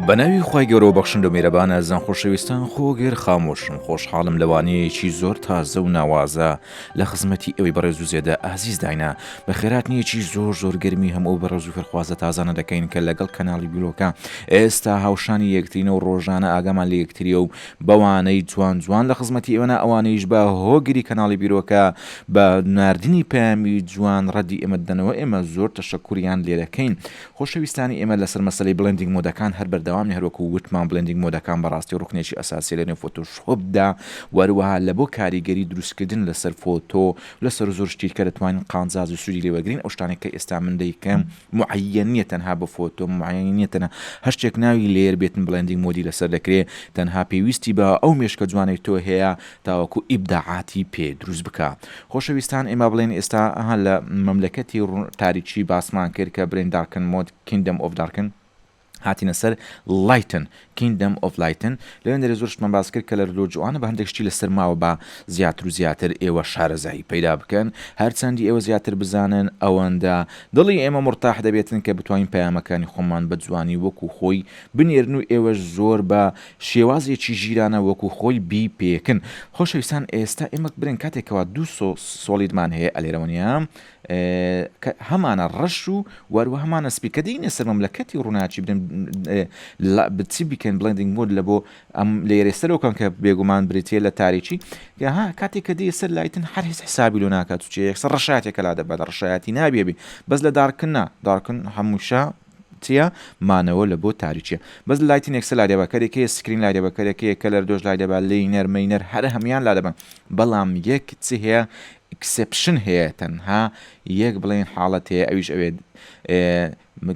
بە ناوی خی گەۆ بەخشند و میرەبانە زان خۆشەویستان خۆگەر خامۆشن خۆشحاڵم لەوانەیەکی زۆر تازە و ناوازە لە خزمەتی ئێوەی بەڕێز و زێدە ئازیز داینە، بە خێرات نییە چی زۆر زۆر گەرمی هەموو ئەو بەڕێز و فێرخوازە تازانە دەکەین کە لەگەڵ کەناڵی بیرۆکە ئێستا هاوشانی یەکترینە و ڕۆژانە ئاگامان لە یەکترییە و بەوانەی جوان جوان لە خزمەتی ئێوەنە ئەوانیش بە هۆگری کەناڵی بیرۆکە بە ناردنی پەیامی جوان ڕەدی ئێمە دەدەنەوە ئێمە زۆر تەشەکوریان لێدەکەین خۆشەویستانی ئێمە لەسەر مەسەلەی بڵێندینگ مۆدەکان هەر بەردەوامین هەروەکو وتمان بڵێندینگ مۆدەکان بەڕاستی ڕوکنێکی ئەساسیە لەنێو فۆتۆشۆپدا وەروەها لەبۆ کاریگەری دروستکردن لەسەر فۆتۆ لەسەر زۆر شتی کە دەتوانین قانزاز و سودی لێوەرگرین ئەو شتانەی کە ئێستا من دەیکەم معەیەن نیە تەنها بۆ فۆتۆ معەیەن نیە تەنها هەر شتێک ناوی لێر بێتن بڵێندینگ مۆدی لەسەر دەکرێ تەنها پێویستی بە ئەو مێشکە جوانەی تۆ هەیە تاوەکو ئیبداعاتی پێ دروست بکا. خۆشەویستان ئێمە بڵێن ئێستا ها لە مەملەکەتی تاریکی باسمان کرد کە برێن دارکن مۆد کیندەم ئۆف دارکن هاتینە سەر لایتن کیندەم ئۆف لایتن لەوێن دەرێ زۆر شتمان باس کرد کە لە لۆ جوانە بە هەندێک شتی لەسەر ماوە با زیاتر و زیاتر ئێوە شارەزایی پەیدا بکەن هەر چەندی ئێوە زیاتر بزانن ئەوەندە دڵی ئێمە مورتاح دەبێتن کە بتوانین پەیامەکانی خۆمان بە جوانی وەکو خۆی بنێرن و ئێوەش زۆر بە شێوازێکی ژیرانە وەکو خۆی بی پێکن. خۆشەویستان ئێستا ئێمەک برێن کاتێک کەوا دوو سۆ سۆڵیدمان هەیە ئەلێرەوەنیا کە هەمانە ڕەش و وەروە هەمانە سپی کە دێینە سەر مەملەکەتی ڕووناچی برێن لا بچی بکەین بڵێندینگ مۆد لە بۆ ئەم لێرێ سەرەوە کەن کە بێگومان بریتە لە تاریکی کە ها کاتێک کە دێ سەر لایتن هەر هیچ حسابی لۆ ناکات چێ یەکسەر ڕەشاتێکە لا دەبات ڕەشایەتی نابێ بی بەس لە دارکن نا دارکن هەمووشە چیە مانەوە لە بۆ تاریکیە. بەس لایتین ئێکسە لادێبەکەرێک هەیە سکرین لادێبەکەرێک هەیە کەلەر دۆش لادێبە لینەر مینەر هەر هەموویان لادەبەن بەڵام یەک چی هەیە ئیکسێپشن هەیە تەنها یەک بڵێن حاڵەت هەیە ئەویش ئەوێت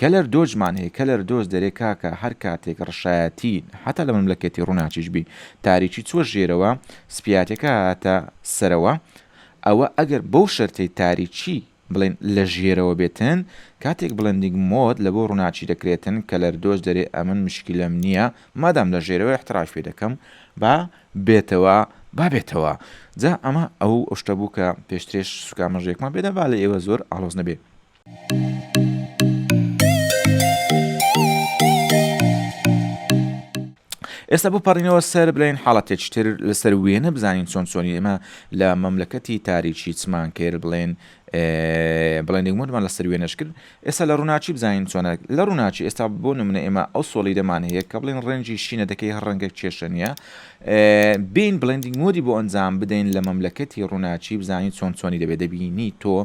کەلەر دۆجمان هەیە کەلەر دۆز دەرێ کاکە هەر کاتێک ڕشایەتی حتا لە مەملەکەتی ڕووناکیش بی تاریکی چوە ژێرەوە سپیاتەکە هاتە سەرەوە ئەوە ئەگەر بەو شەرتەی تاریکی بڵێن لە ژێرەوە بێتن کاتێک بڵێندینگ مۆد لە بۆ ڕووناکی دەکرێتن کە لەردۆش دەرێ ئەمن مشکیلەم نییە مادام لە ژێرەوە ئیحتڕاش پێ دەکەم با بێتەوە با بێتەوە جا ئەمە ئەو شتە بوو کە پێشترێش سوکامەژێکمان پێدا با لە ئێوە زۆر ئاڵۆز نەبێ. ئێستا بپەڕینەوە سەر بلین حاڵەتێکی تر لەسەر وێنە بزانین چۆن چۆنی ئێمە لە مەملەکەتی تاریکی چمان کێر بڵێن بڵێنێک مردمان لەسەر وێنەش کرد ئێستا لە ڕووناچی بزانین چۆنە لە ڕووناچی ئێستا بۆ نمونە ئێمە ئەو سۆڵی دەمان هەیە کە بڵێن ڕەنجی شینە دەکەی هەر ڕەنگە کێشە نیە بین بڵندینگ مۆدی بۆ ئەنجام بدەین لە مەملەکەتی ڕووناچی بزانین چۆن چۆنی دەبێت دەبینی تۆ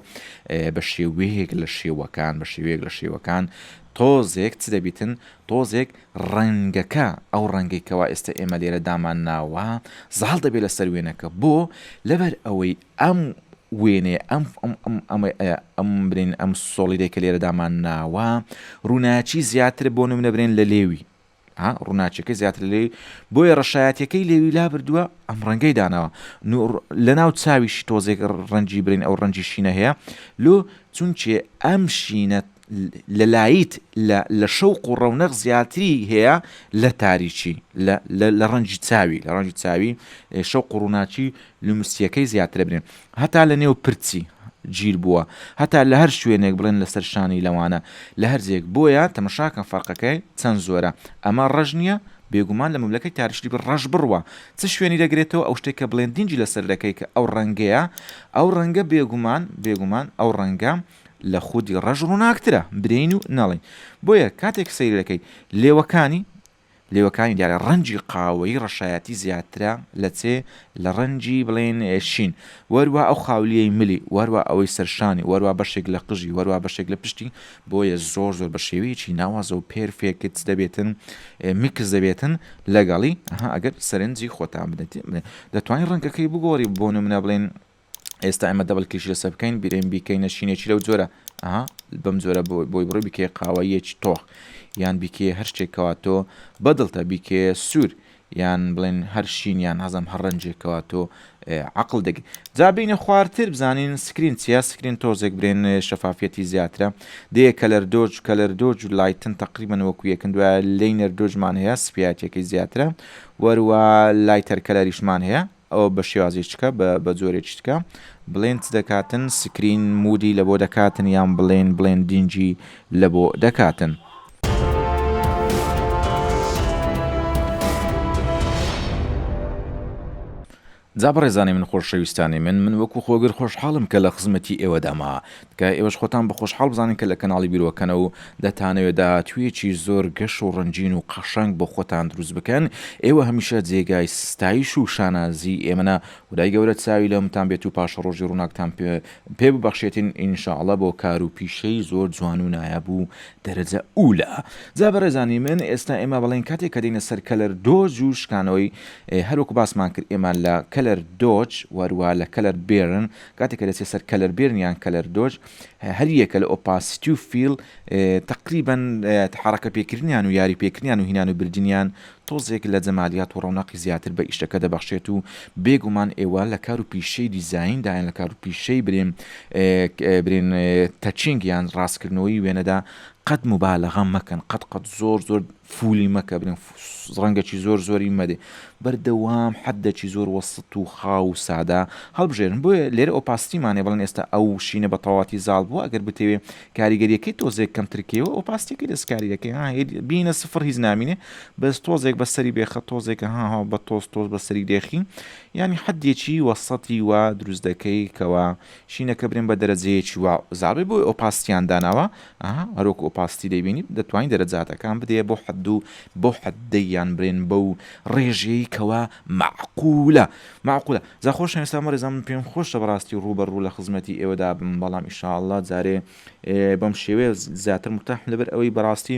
بە شێوەیەک لە شێوەکان بە شێوەیەک لە شێوەکان تۆزێک چ دەبیتن تۆزێک ڕەنگەکە، ئەو ڕەنگەی کەوا ئێستە ئێمە لێرە دامانناوە، زاڵ دەبێت لەسەر وێنەکە، بۆ؟ لەبەر ئەوەی ئەم وێنەیە، ئەم ئەم ئەم ئەمەی ئەیە، ئەم برێن ئەم سۆڵیدەی کە لێرە دامانناوە، ڕووناکی زیاترە بۆ نموونە برێن لە لێوی، ها، ڕووناکیەکەی زیاتر لە لێوی، بۆیە ڕەشایەتیەکەی لێوی لابردووە، ئەم ڕەنگەی داناوە، نوڕ لەناو چاویشی تۆزێک ڕەنگی برێن ئەو ڕەنگی شینە هەیە، لۆ؟ چونکێ ئەم شینە لە لایت لە لە شەوق و ڕەونەق زیاتری هەیە لە تاریکی لە لە ڕەنگی چاوی لە ڕەنگی چاوی شەوق و ڕووناکی لومسییەکەی زیاترە بنێن هەتا لە نێو پرچی گیر بووە هەتا لە هەر شوێنێک بڵێن لەسەر شانی لەوانە لە هەرجێک بۆیە تەمەشاکەن فەرقەکەی چەند زۆرە ئەمە ڕەش نییە بێگومان لە مەملەکەی تاریشتی بە ڕەش بڕوە چ شوێنی دەگرێتەوە ئەو شتێک کە بڵێن دینجی لەسەر دەکەی کە ئەو ڕەنگەیە ئەو ڕەنگە بێگومان بێگومان ئەو ڕەنگە لە خودی ڕەش ڕووناکترە برێین و نەڵێین بۆیە کاتێک سەیری دەکەی لێوەکانی لێوەکانی دیارە ڕەنجی قاوەیی ڕەشایەتی زیاترە لە چێ لە ڕەنجی بڵێن شین وەروە ئەو خاولیەی ملی وەروە ئەوەی سەرشانی وەروە بەشێک لە قژی وەروە بەشێک لە پشتی بۆیە زۆر زۆر بە شێوەیەکی ناوازە و پێرفێکت دەبێتن میکس دەبێتن لەگەڵی ئەها ئەگەر سەرنجی خۆتان بدەێت دەتوانین ڕەنگەکەی بگۆڕی بۆ نمونە بڵێن ئێستا ئێمە دەبل کلیش لەسەر بکەین بیرێن بیکەینە شینێکی لەو جۆرە ئەها بەم جۆرە بۆی بڕی بکێ قاوەیەکی تۆخ یان بیکێ هەر شتێکەوە تۆ بەدڵتە بیکێ سوور یان بڵێن هەر شین یان هەزم هەر ڕەنجێکەوە تۆ عقل دەگ جا بینە خوارتر بزانین سکرین چیا سکرین تۆزێک برێن شەفافەتی زیاترە دێ کەلەر دۆج کەلەر دۆج و لایتن تقریبن وەکو یەکن دوای لینەر دۆجمان هەیە سپیاتەکەی زیاترە وەروە لایتەر کەلەریشمان هەیە ئەوە بە شێوازێ چکە بە بە جۆرێ چتکە بڵێن چ دەکاتن سکرین مودی لە بۆ دەکاتن یان بڵێن بڵێن دینجی لە بۆ دەکاتن. جا بەڕێزانی من خۆشەویستانی من من وەکو خۆگر خۆشحاڵم کە لە خزمەتی ئێوەدامە تکایە ئێوەش خۆتان بە خۆشحاڵ بزانن کە لە کەناڵی بیرۆکەنە و دەتانەوێت داهاتوویەکی زۆر گەش و ڕەنگین و قەشەنگ بۆ خۆتان دروست بکەن، ئێوە هەمیشە جێگای ستایش و شانازی ئێمەنە، خودای گەورە چاوی لەومتان بێت و پاشەڕۆژی ڕووناکتان پێ ببەخشێتین ان شاء اللە بۆ کار و پیشەی زۆر جوان و نایاب و دەرەجە ئولا. جا بەڕێزانی من ئێستا ئێمە بەڵێن کاتێک کە دێینە سەر کەلەر دۆج و شکانەوەی هەر وەکو باسمان کرد ئێمە لە کەلەر دۆج وەروا لە کەلەر بێرن کاتێک کە دەچێت سەر کەلەربێرن یان کەلەردۆج، هەریەکە لە ئۆپاسیتی و فیل تەقریبەن حەڕەکە پێکردنیان و یاری پێکردنیان و هینان و بردنیان تۆزێک لە جەمالیات و ڕەوناقی زیاتر بە ئیشەکە دەبەخشێت و بێگومان ئێوە لە کار و پیشەی دیزاین دا یان لە کار و پیشەی برین برین تەچینگ یان ڕاستکردنەوەی وێنەدا قەت موبالەغە مەکەن قەت قەت زۆر زۆر فولی مەکە برین ڕەنگەکی زۆر زۆری مەدێ. بەردەوام حەددەکی زۆر وەسط و خاو و سادە هەڵبژێرن. بۆیە لێرە ئۆپاسیتیمانە بڵێن ئێستا ئەو شینە بە تەواوەتی زاڵ بووە ئەگەر بتەوێ کاریگەرییەکەی تۆزێک کەمتر کەیەوە ئۆپاسیتیەکەی دەستکارییەکەی ها بینە سفر هیچ نامینێ بەس تۆزێک بە سەری بێخە تۆزێکە ها ها بە تۆز تۆز بە سەری دێخی یانی حەدێکی وەسەتی وا دروست دەکەی کەوا شینەکە برێن بە دەرەجەیەکی وا زاڵ بێ بۆی ئۆپاسیتیان داناوە ئا هەروەکو ئۆپاستی دەیبینیت دەتوانی دەرەجاتەکان بدەیە بۆ حەد و بەو حەد دەیان برێن بەو ڕێژەیەی کەوا مەعقولە مەعقولە جا خۆشەویستان بەڕێزان من پێم خۆشە بەڕاستی ڕوو بە ڕوو لە خزمەتی ئێوەدا بم بەڵام ان شاء اللە جارێ بەم شێوەیە زیاتر مرتاحم لەبەر ئەوەی بەڕاستی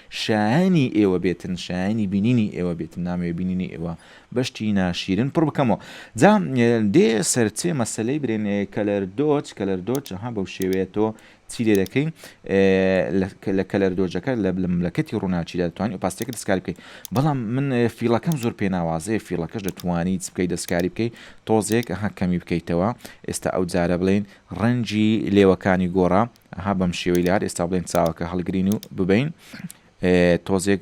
شایەنی ئێوە بێتن شایەنی بینینی ئێوە بێتن نامەوێ بینینی ئێوە بە شتی ناشیرن پڕ بکەمەوە جا دێ سەر چێ مەسەلەی برێن کەلەر دۆچ کەلەر دۆچ ها بەو شێوەیە تۆ چی لێ دەکەی لە کەلەر دۆجەکە لە ملەکەتی ڕووناچی دەتوانانی ئۆپاستەکە دەستکاری بکەیت بەڵام من فیڵەکەم زۆر پێ ناوازەیە فیڵەکەش دەتوانی چ بکەیت دەستکاری بکەیت تۆزێک هەکەمی بکەیتەوە ئێستا ئەو جارە بڵێن ڕەنجی لێوەکانی گۆڕا ئەها بەم شێوەی لار ئێستا بڵێن چاوەکە هەڵگرین و ببین تۆزێک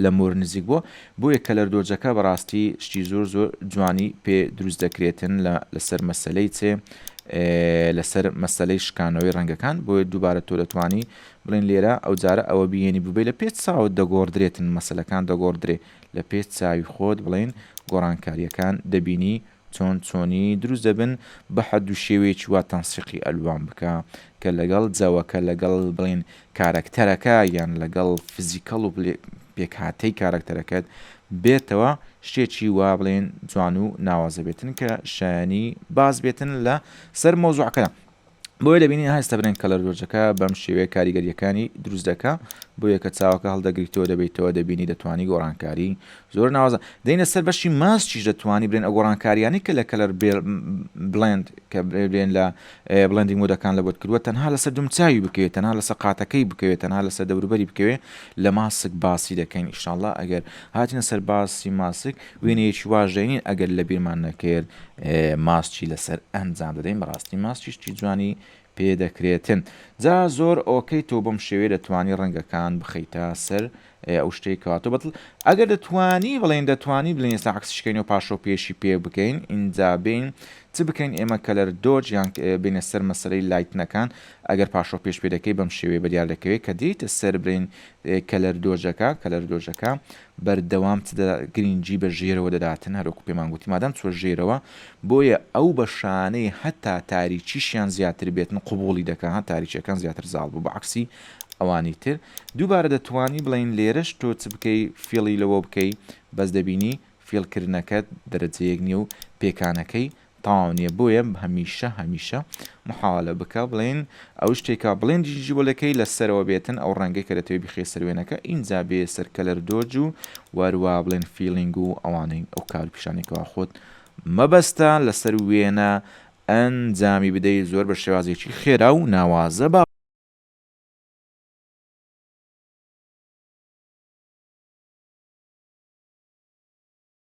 لە مۆر نزیک بووە بۆیە کەلەر دۆجەکە بەڕاستی شتی زۆر زۆر جوانی پێ دروست دەکرێتن لەسەر مەسلەی چێ لەسەر مەسلەی شکانەوەی ڕەنگەکان بۆیە دووبارە تۆ دەتوانی بڵێن لێرە ئەو جارە ئەوە بینی ببێ لە پێت چاوت دەگۆڕدرێتن مەسلەکان دەگۆڕدرێ لە پێت چاوی خۆت بڵێن گۆڕانکاریەکان دەبینی چۆن چۆنی دروست دەبن بەحەد و شێوەیەکی وا تەنسیقی ئەلوان بکە کە لەگەڵ جەوەکە لەگەڵ بڵێن کارەکتەرەکە یان لەگەڵ فزیکەڵ و پێکهاتەی کارەکتەرەکەت بێتەوە شتێکی وا بڵێن جوان و ناوازە بێتن کە شایەنی باس بێتن لە سەر مەوزوعەکەدا بۆیە دەبینین هەستە برێن کەلەر دۆجەکە بەم شێوەیە کاریگەریەکانی دروست دەکە بۆ یەکە چاوەکە هەڵدەگریتەوە دەبیتەوە دەبینی دەتوانی گۆڕانکاری زۆر ناوازە دەینە سەر بەشی ماسچیش دەتوانی برێن ئەگۆڕانکاریانی کە لە کەلەر بلند کە برێن لە بلندی مۆدەکان لە بۆت کردووە تەنها لەسەر دومچوی بکەوێت تەنها لە سەقاتەکەی بکەوێت تەنها لەسە دەوروبەری بکەوێت لە ماسک باسی دەکەین ئیشاءله ئەگەر هاتینە سەر باسی ماسک وێنەیەکی واش دەینین ئەگەر لە بیرمان نەکرد ماسکی لەسەر ئەنجام دەدەین بەڕاستی ماسکی شتی جوانی پێ دەکرێتن جا زۆر ئۆکەی تۆ بەم شێوێ دەتوانی ڕەنگەکان بخەیتە سەر ئەو شتەی کەواتۆ بەتڵ ئەگەر دەتوانی بڵێن دەتوانی بڵێن ئێستا عکسشکەین و پاشۆ پێشی پێ بکەین ئینجا بین چ بکەین ئێمە کەلەر دۆج یان بینە سەر مەسەرەی لایتنەکان ئەگەر پاشۆ پێش پێ دەکەی بەم شێوێ بەدیار دەکەوێت کە دیتە سەر برین کەلەر دۆجەکە کەلەر دۆجەکە بەردەوام چ دە گرینگی بە ژێرەوە دەداتن هەر وەکو پێمان گوتی مادام چوە ژێرەوە بۆیە ئەو بەشانەی هەتا تاریکیشیان زیاتر بێتن قبوڵی دەکا ها تاریکیەکان زیاتر زاڵ بوو بە عەکسی ئەوانی تر دووبارە دەتوانی بڵێین لێرەش تۆ چ بکەی فیڵی لەوە بکەی بەس دەبینی فیڵ کردنەکەت دەرەجەیەک نیە و پێکانەکەی تەواو نیە بۆیە هەمیشە هەمیشە محاوەلە بکە بڵێن ئەو شتێکە بڵێن جیجیبۆلەکەی لە سەرەوە بێتن ئەو ڕەنگە کە دەتەوێ بیخەیە سەر وێنەکە ئینجا بێیە سەر کەلەر دۆج و وەروە بڵێن فیڵینگ و ئەوانەی ئەو کار و پیشانەی کەوا خۆت مەبەستە لەسەر وێنە ئەنجامی بدەی زۆر بە شێوازێکی خێرا و ناوازە با